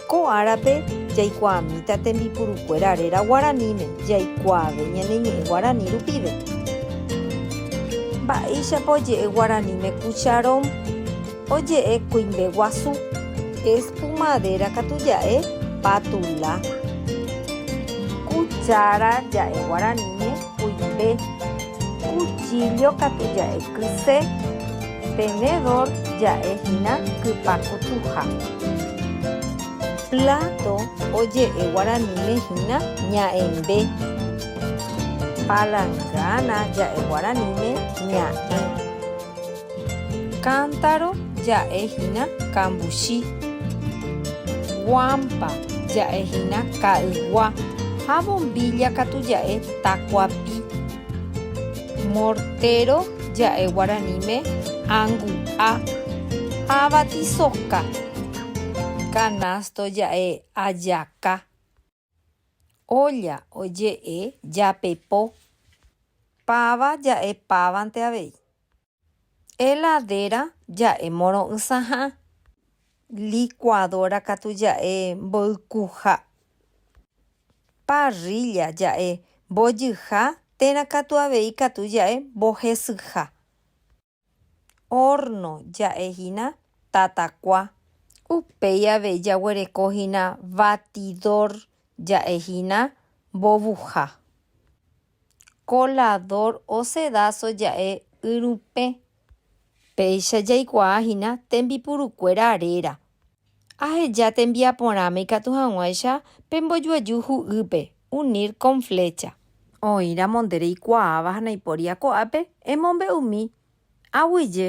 Ko árape jaikuaamíta tembipurukuéra réra guaraníme jaikuaave ñane ñe'ẽ guarani rupive. Mba'éichapa oje'e guaraníme cucharón? Oje'e kuimbe guasu. Espumadéra katu ja'e patula. Kuchára ja'e guaraníme kuimbe. Kuchíllo katu ja'e kyse. Tenedor ja'e hína kypa kutuha. Plato oje'e guaraníme hína ña'ẽmbe. Palangana ja'e guaraníme ña'ẽ. Cántaro ja'e hína kambuchi. Guampa ja'e hína ka'ygua ha bombilla katu ja'e takuapi. Mortéro ja'e guaraníme angu'a, avatisoka. Kanásto ja'e ajaka. Ólla oje'e japepo. Páva ja'e pávante avei. Heladera ja'e moro'ysãha. Licuadora katu ja'e mboykuha. Parrilla ja'e mbojyha térã katu avei katu ja'e mbohesyha. Horno ja'e hína tatakua. Upéi avei jaguereko hína batidor ja'e hína mbovuha. koladór osedáso ja'e yrupẽ. Péicha jaikuaa hína tembipurukuéra réra. Aheja tembiaporãme ikatu hag̃uáicha pe mbojuaju hu'ýpe, unir con flecha. Oĩramo nde reikuaáva ha naipóri ako'ápe, emombe'umi. Aguyje.